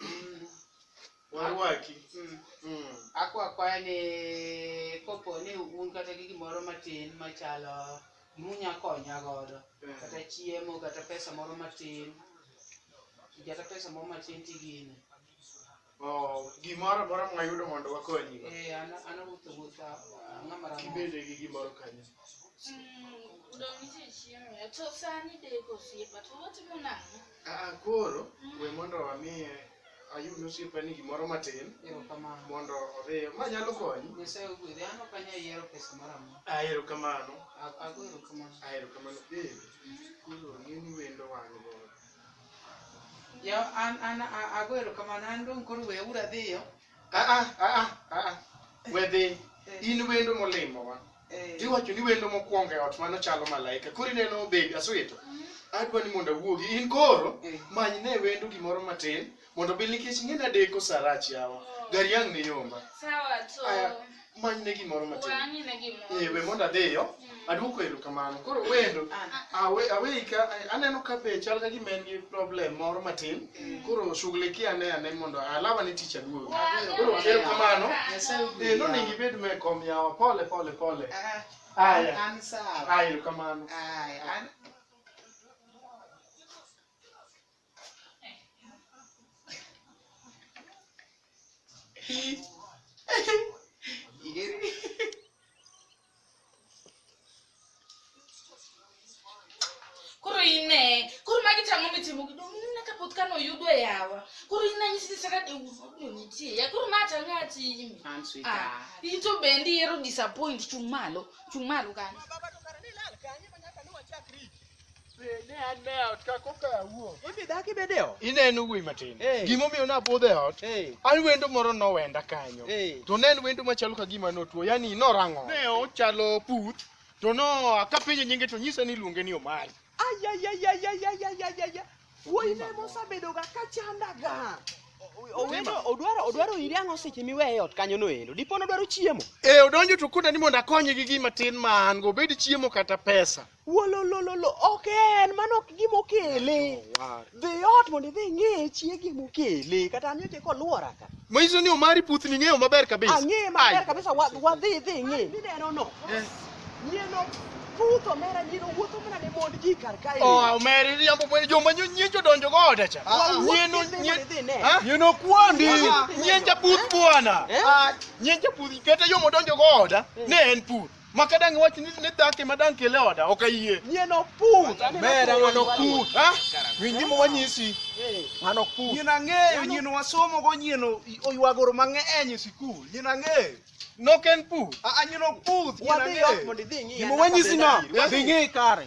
Mm, Warwaki. mm. Mm. Akwa akwaya ni kopo ni un kata gi gimoro matin machalo gimunya konya godo kata chiemo kata pesa moro matin kata pesa moro matin tigine Oh, gimoro amora mwayudo mondo wakonyi. eh ana ana wuotho wuotha ng'ama ramo Kibede gi gimoro kanyo. Mm, udong' nitie chiemo. To sani deko osiepa to watimo nang'o? Aa, koro we mondo wamiye ayud osiepani gimoro matin Erokamano. mondo odhi ma nyalo konyi Nyasaye ogwedhi. An ok anyal yiero pesa moro amora. ahero kamano A- Ago erokamano. ahero kamano bende koro ng'eni wendo wan godo Ya an an a- ago erokamano. An dong' koro weuru adhiyo. aa aa aa we dhi in wendo molimowa Eh. tiwacho ni wendo mokwongo e ot mano chalo malaika koro ineno bebi aswito adwa ni mondo awuogi in koro Eh. many ne wendo gimoro matin mondo bil nikech ing'e nadeko sarach yawa gari ang' ne yomba Sawa to. Aya, many ne gimoro matin Wang'i ne gimoro. Eh, we mondo adhiyo aduoko erokamano koro wendo Ah. awe- aweika eh, aneno ka be chal ka gima en gi problem moro matin koro shughulikia ane ane mondo alama ni tich aduogi koro ker kamano Nyasaye ogwedhi eh, nonego yawa. ibed me kom yawa pole pole pole Ah, aya an sawa. aya erokamano Ay, an Hi. koro ine koro magi tang'o mitimo gido mna kapoth kano yudo e yawa koro ine anyisi ni saka deuno nitie ya koro ma tang'o atimi An sweet Ah, heart. in to bendi ero disappoint chung' malo chung' malo kanyo Ne an e ot ka koka awuok. Ibi dak ibed e ot. Ineno wuoyi matin. Hey. Gimomiyo nabudho e ot, Hey. an wendo moro nowenda kanyo. Hey. To ne en wendo machalo ka gima notuo, yani norang'o. Ne ochalo puth, to no akapenje nyinge to nyisa ni iluonge ni Omari. Ayayayayayayayayaya. Wuoyi ne mosabedoga ka chandaga. Owendo odwaro odwaro iri ang'o seche miweye e ot kanyo noendo. Dipo nodwaro chiemo. E odonjo to koda ni mondo akonye gi gima tin ma an go, obed chiemo kata pesa. Wololololo, ok en, mano ok gima okele. Dhi ot mondo idhi ing'e chiegi mokele, kata an nyocha koluora ka. Manyiso ni Omari puth ni ng'eyo maber kabisa. Ang'eye maber kabisa, wa- wadhi idhi ing'e. Mineno no, Eh. nyieno puth omera, nyieno wuotho mana ne mond ji kar kae. Oh, Omeri riambo mwene joma nyo- nyien jodonjo go oda cha. Wawuok Nyien o- idhi nyien- mondo idhi ine. Ha? Nyien okwandi. Nyien japuth bwana. Eh? Nyien japuth kata yo modonjo go oda ne en puth. Ma ka dang' iwach ni ni dhako ema dang' kele oda, ok ayie. Nyie no pur. Mera ng'ano pur. Ha? Winj gima wanyisi. Ng'ano pur. Nyien ang'eyo, nyien wasomo go, nyien o- oywagoro mang'eny e sikul. Nyien ang'eyo. Nok en pur. A a nyien ok pur, nyien Wadhi ot ang'eyo. mondo idhi ing'i. Gima wanyisi no, dhi ng'i kare.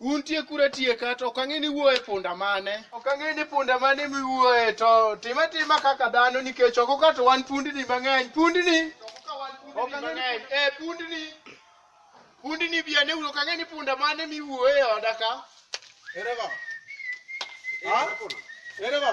Untie kure tieka to ok ang'e ni wuoye punda mane. Ok ang'e ni punda mane miwuoye to time tima kaka dhano nikech oko ka to wan pundni mang'eny. Pundni. Ok ang'e ni eh pundni. Pundni bi ane uru ok ang'e ni punda mane miwuoye e oda ka. Ere go. Ha? Ere go.